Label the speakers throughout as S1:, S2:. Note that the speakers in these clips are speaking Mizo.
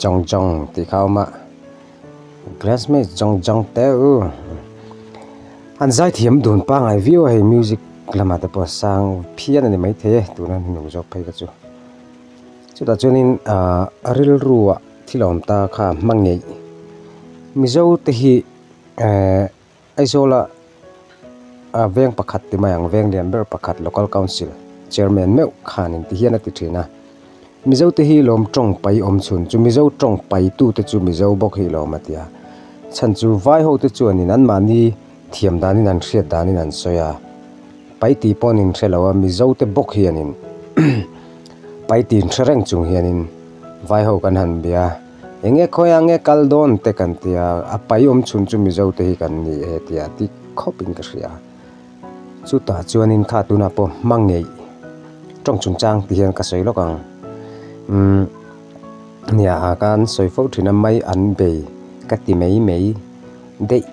S1: Jong jong tih kha a awm a, classmate jong jong te u an zai thiam dun pangai viau a hei music lamah te pawh sang phian a ni maithei e tuna hnu zawk phei ka chu. Chutah chuanin ahh rilru ah thil a awm ta kha a hmangaih, Mizo te hi ehh. Aizawla ah veng pakhat ti mai ang, veng lian ber pakhat local council chairman meuh khan inti hian a ti thin a, Mizo te hi lawm tawng pai awm chhun chu Mizo tawng pai tu te chu Mizo bawk hi lawm a ti a, chhan chu vai ho te chuanin an mahni thiam danin an hriat danin an sawi a, pai tih pawh an in hre lo a, Mizo te bawk hianin pai tih hre reng chung hianin vai ho kan han bia. Enge khawiah nge kal dawn te kan ti a, a pai awm chhun chu Mizo te hi kan ni e tia tik khawp in ka hria. Chutah chuan in kha tunah pawh hmangaih tawng chungchang ti hian ka sawi lawk ang. Umm nia a kan sawi fo thin a mai an bei ka ti mai mai daih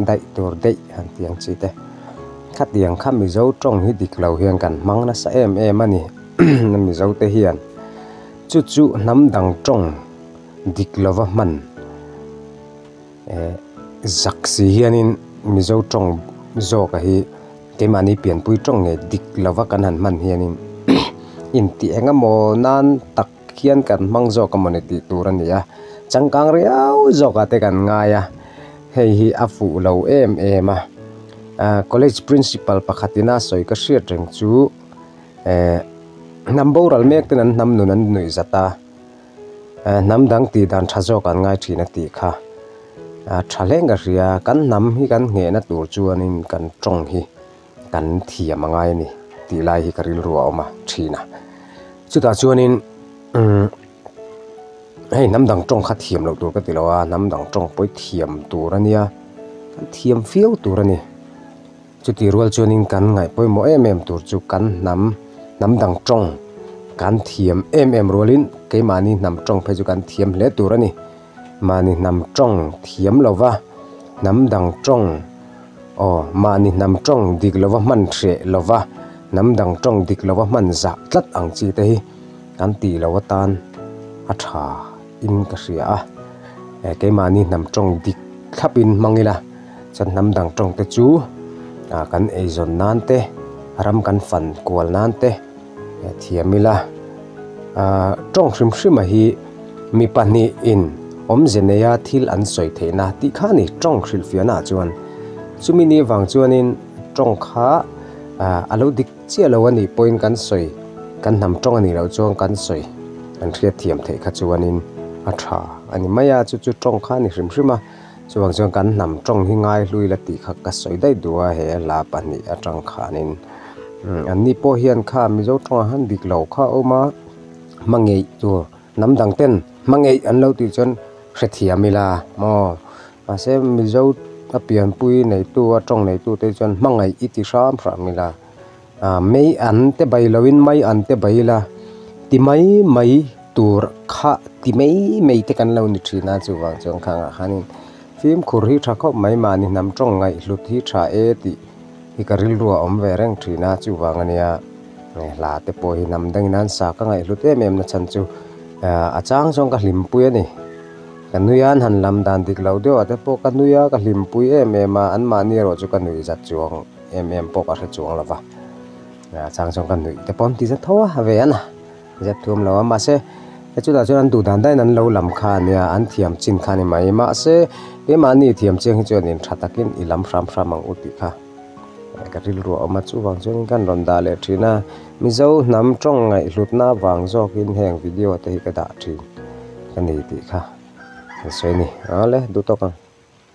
S1: daih tur daih han ti ang chi te. Khatiang kha Mizo tawng hi dik lo hian kan hmang nasa em em a ni. Mizo te hian Chu chu hnam dang tawng dik lova hman eh zak si hianin Mizo tawng zawka hi keimahni pianpui tawng nge dik lova kan han hman hianin intih engemaw nan tak hian kan hmang zawk a maw ni tih tur a ni a, changkang riau zawkah te kan ngai a, hei hi a fuh lo em em a, College Principal pakhatin a sawi ka hriat reng chu. ehh hnam boral mek ten an hnam nun an nuih zat a, ehh hnam dang tih dan tha zawk an ngai thin a tih kha ah tha hleng ka hria, kan hnam hi kan ngheh na tur chuan in kan tawng hi kan thiam a ngai a ni tih lai hi ka rilru a awm a thin a, chutah chuan in umm hei hnam dang tawng kha thiam loh tur ka ti lo a, hnam dang tawng pawh i thiam tur a nia, thiam fiau tur a ni. Chuti rual chuanin kan ngaih pawimawh em em tur chu kan hnam hnam dang tawng kan thiam em em rualin keimahni hnam tawng phei chu kan thiam hle tur a ni. Mahni hnam tawng thiam lova hnam dang tawng aw mahni hnam tawng dik lova hman hreh lova hnam dang tawng dik lova hman zah tlat ang chi te hi kan tih loh atan a thain ka hria a. Keimahni hnam tawng dik thlapin hmang ila. Chawlhnam dang tawngte chu kan eizawn nan te, ram kan fan kual nan te thiam ila. Tawng hrim hrima hi mi pahnihin awmze neia thil an sawi theihna tih kha a ni. Tawng hrilhfiahnaah chuan chumi ni avang chuanin tawng kha a lo dik chiah lo a nih pawhin kan sawi, kan hnam tawng a nih loh chuan kan sawi an hriat thiam theih kha chuanin a tha a ni mai a. Chu chu tawng kha a ni hrim hrim a. Chuvang chuan kan hnam tawng hi ngai hlui la tih kha ka sawi daih duh a, he la pahnih a tangkhanin anni pawh hian kha Mizo tawngah han dik lo kha a awm a, hmangaih tur hnam dang ten hmangaih an lo tih chuan hrethiam ila aw mahse Mizo a pianpui neitu a tawng neitute chuan hmangaih i ti hram hram ila. ah mei an te bai lo in mai an te bai ila ti mai mai tur kha ti mai mai te kan lo ni thin a chuvang chu ang khan ah khan in fimkhur hi tha khawp mai mahni hnam tawng ngaihhlut hi tha e tih hi ka rilru a awm ve reng thin a chuvang a nia eh hla te pawh hi hnam dang in a sa ka ngaihhlut em em nachhan chu ah a chang zawng ka hlimpui a ni ka nui a an han lam dan dik lo deuh ah te pawh ka nui a ka hlimpui em em a an mahni erawh chu ka nuih zat chuang. em em pawh ka hre chuang lo va a chang chuan ka nuih te pawh an ti zet tho a a ve an a zep thuam lo a mahse he chutah chuan an duh dan dan in an lo lam kha a nia an thiam chin kha a ni mai mahse he mahni thiam chiang hi chuan in tha takin i lam hram hram ang u tih kha ka rilru a awm a chuvang chuan ka rawn dah leh thin a mizo hnam tawng ngaihhlutna vang zawkin heng video te hi ka dah thin ka ni tih kha ka sawi a ni awle duh tawk ang.